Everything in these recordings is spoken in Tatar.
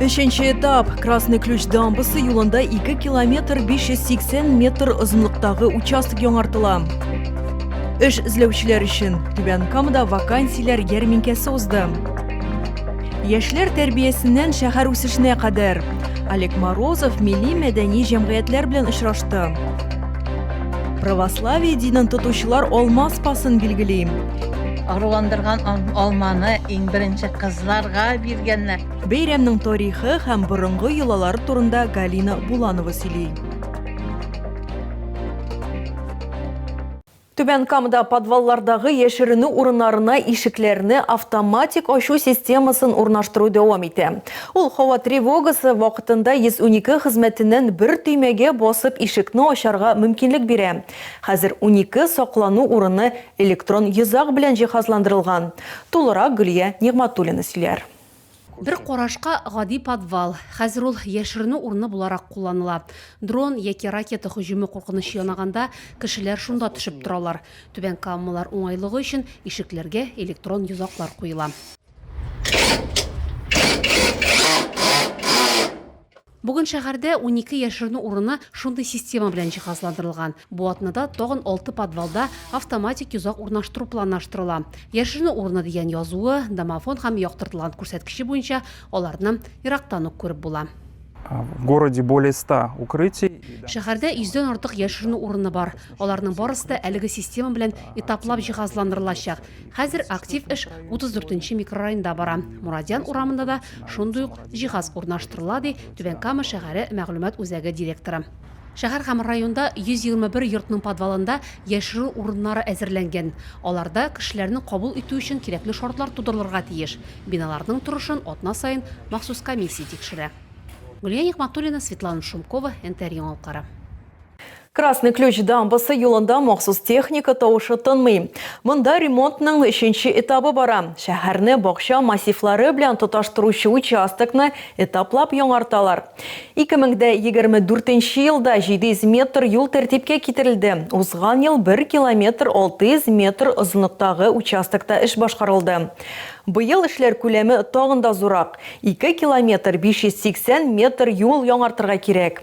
Өченче этап Красный ключ дамбасы юлында 2 километр 580 метр озынлыктагы участок яңартыла. Эш эзләүчеләр өчен Түбән Камада вакансияләр ярминкәсе узды. Яшьләр тәрбиясеннән шәһәр үсешенә кадәр Олег Морозов милли мәдәни җәмгыятьләр белән очрашты. Православие динен тотучылар алма спасын билгелим. Агрыландырган алманы иң беренче кызларга биргәннәр. Бәйрәмнең тарихы һәм борынгы йолалар турында Галина Буланова сөйли. Түбән Камада подваллардагы яшеренү урыннарына ишекләрне автоматик ачу системасын урнаштыру дәвам итә. Ул һава тревогасы вакытында 112 хезмәтеннән бер төймәгә басып ишекне ачарга мөмкинлек бирә. Хәзер унике саклану урыны электрон йозак белән җиһазландырылган. Тулырак Гөлия Нигъматуллина сөйләр. Бер карашка гади подвал, хәзер ул яшеренү урыны буларак кулланыла. Дрон яки ракета һөҗүме куркынычы янаганда, кешеләр шунда төшеп торалар. Түбән Камалар уңайлыгы өчен ишекләргә электрон йозаклар куела. Бүген шәһәрдә унике яшеренү урыны шундый система белән җиһазландырылган. Бу атнада тагын алты подвалда автоматик йозак урнаштыру планлаштырыла. Яшеренү урыны дигән язуы, домофон һәм яктыртылган күрсәткече буенча аларны ерактан ук күреп була. В городе более 100 укрытий. Шәһәрдә йөздән артык яшеренү урыны бар. Аларның барысы да әлеге система белән этаплап җиһазландырылачак. Хәзер актив эш 34 нче микрорайонда бара. Мурадян урамында да шундый ук җиһаз урнаштырыла, ди Түбән Кама шәһәре мәгълүмат үзәге директоры. Шәһәр һәм районда 121 йортның подвалында яшерү урыннары әзерләнгән. Аларда кешеләрне кабул итү өчен кирәкле шартлар тудырылырга тиеш. Биналарның торышын атна саен махсус комиссия тикшерә. Гөлия Нигъмәтуллина, Светлана Шумкова, НТР яңалыклары. Красный Ключ дамбасы юлында махсус техника тавышы тынмый. Монда ремонтның өченче этабы бара. Шәһәрне бакча массивлары белән тоташтыручы участокны этаплап яңарталар. 2024 елда 700 метр юл тәртипкә китерелде. Узган ел 1 километр 600 метр озынлыктагы участокта эш башкарылды. Быел эшләр күләме тагын да зуррак, 2 километр 580 метр юл яңартырга кирәк.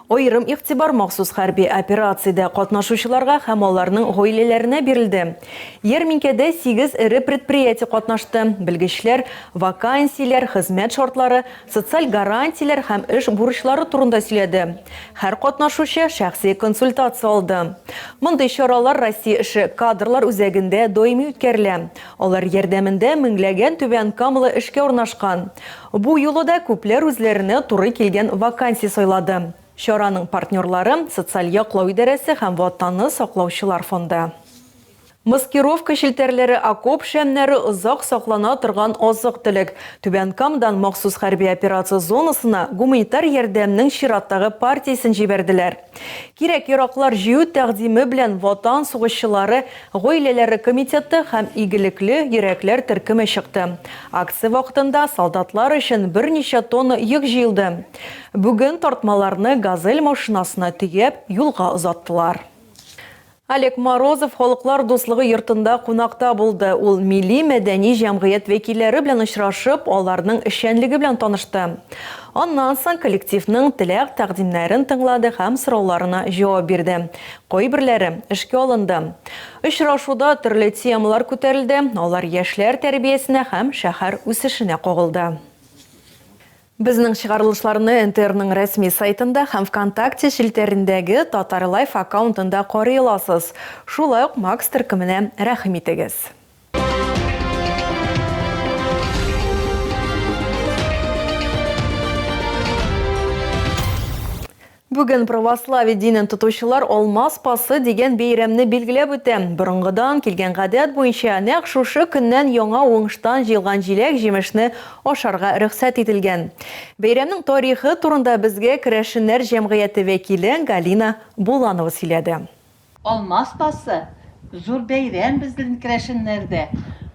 Аерым игътибар махсус хәрби операциядә катнашучыларга һәм аларның гаиләләренә бирелде. Ярминкәдә сигез эре предприятие катнашты, белгечләр вакансияләр, хезмәт шартлары, социаль гарантияләр һәм эш бурычлары турында сөйләде. Һәр катнашучы шәхси консультация алды. Мондый чаралар Россия эше кадрлар үзәгендә даими үткәрелә. Алар ярдәмендә меңләгән түбән камалы эшкә урнашкан. Бу юлы да күпләр үзләренә туры килгән вакансия сайлады. Чараның партнерлары, социаль яклау идарәсе һәм Ватанны саклаучылар фонды. Маскировка челтәрләре, окоп шәмнәре, озак саклана торган азык-төлек. Түбән Камадан махсус хәрби операция зонасына гуманитар ярдәмнең чираттагы партиясен җибәрделәр. Кирәк-яраклар җыю тәкъдиме белән Ватан сугышчылары гаиләләре комитеты һәм Игелекле йөрәкләр төркеме чыкты. Акция вакытында солдатлар өчен берничә тонна йөк җыелды. Бүген тартмаларны Газель машинасына төяп, юлга озаттылар. Олег Морозов Халыклар дуслыгы йортында кунакта булды. Ул милли-мәдәни җәмгыять вәкилләре белән очрашып, аларның эшчәнлеге белән танышты. Аннан соң коллективның теләк-тәкъдимнәрен тыңлады һәм сорауларына җавап бирде. Кайберләре эшкә алынды. Очрашуда төрле темалар күтәрелде, алар яшьләр тәрбиясенә һәм шәһәр үсешенә кагылды. Безнең чыгарылышларны НТРның рәсми сайтында һәм Вконтакте челтәрендәге Татарлайф аккаунтында карый аласыз. Шулай ук Макс төркеменә рәхим итегез. Бүген православие динен тотучылар Алма спасы дигән бәйрәмне билгеләп үтә. Борынгыдан килгән гадәт буенча, нәкъ шушы көннән яңа уңыштан җыелган җиләк-җимешне ашарга рөхсәт ителгән. Бәйрәмнең тарихы турында безгә керәшеннәр җәмгыяте вәкиле Галина Буланова сөйләде. Алма спасы, зур бәйрәм бездн керәшеннәрдә.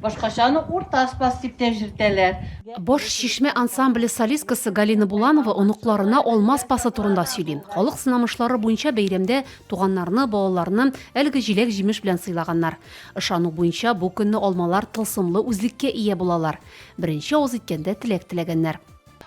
Башкачаны урта спас дип тә җртәләр. Баш Чишмә ансамбле солисткасы Галина Буланова оныкларына алма спасы турында сөйли. Халык сынамышлары буенча бәйрәмдә туганнарны, балаларны әлеге җиләк-җимеш белән сыйлаганнар. Ышану буенча бу көнне алмалар тылсымлы үзлеккә ия булалар. Беренче авыз иткәндә теләк теләгәннәр.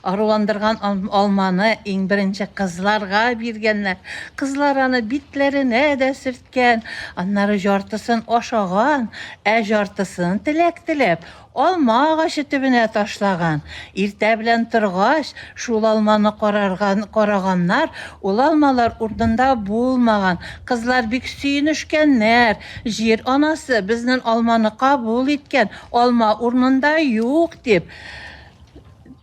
Аруландырган алманы иң беренче кызларга биргәннәр. Кызлар аны битләренә дә сөрткән, аннары җартысын ашаган, ә җартысын, теләк теләп, алма агачы төбенә ташлаган. Иртә белән торгач, шул алманы карарган, караганнар, ул алмалар урынында булмаган. Кызлар бик сөенешкәннәр, Җир анасы безнен алманы кабул иткән, алма урынында юк, дип.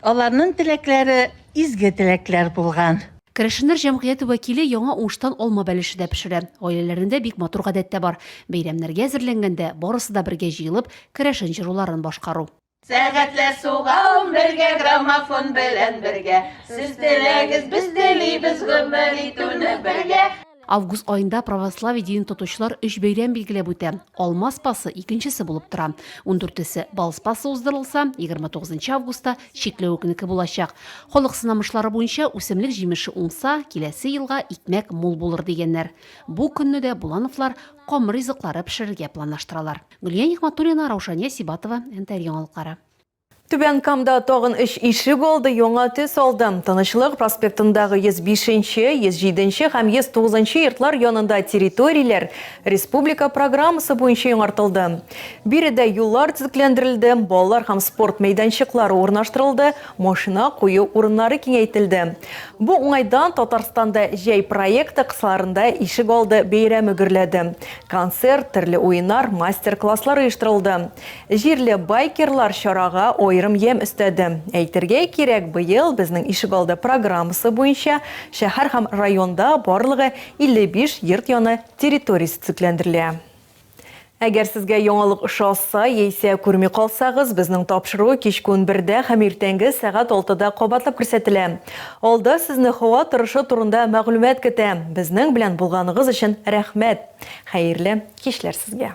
Аларның теләкләре изге теләкләр булган. Керәшеннәр җәмгыяте вәкиле яңа уңыштан алма бәлеше дә пешерә. Гаиләләрендә бик матур гадәт тә бар. Бәйрәмнәргә әзерләнгәндә, барысы да бергә җыелып, керәшен җыруларын башкару. Сәгатьләр сугам бергә, граммофон белән бергә, Сез теләгез, без телибез гомер итүне бергә. Август аенда православие динен тотучылар өч бәйрәм билгеләп үтә. Алма спасы икенчесе булып тора. Ундүртесе бал спасы уздырылса, 29 августта чикләвек көнеке булачак. Халык сынамышлары буенча үсемлек җимеше уңса, киләсе елга икмәк мул булыр дигәннәр. Бу көнне дә булановлар камыр ризыклары пешерергә планлаштыралар. Гөлия Нигъмәтуллина, Раушания Сибатова, НТР Яңалыклары. Түбән Камда тагын өч ишек алды, яңа төс алды. Тынычлык проспектындагы 105 нче, 107 нче һәм 109 нчы йортлар янында территорияләр республика программасы буенча яңартылды. Биредә юллар төзекләндерелде, балалар һәм спорт мәйданчыклары урнаштырылды, машина кую урыннары киңәйтелде. Бу уңайдан Татарстанда җәй проекты кысаларында ишек алды бәйрәме гөрләде. Концерт, төрле уеннар, мастер-класслар оештырылды. Җирле байкерлар чарага аерым ямь өстәде. Әйтергә кирәк, быел Безнең ишегалды программасы буенча шәһәр һәм районда барлыгы 55 йорт яны территориясе төзекләндерелә. Әгәр сезгә яңалык ошаса яисә күрми калсагыз, безнең тапшыру кичке унбердә һәм иртәнге сәгать алтыда кабатлап күрсәтелә. Алда сезне һава торышы турында мәгълүмат көтә. Безнең белән булганыгыз өчен рәхмәт! Хәерле кичләр сезгә!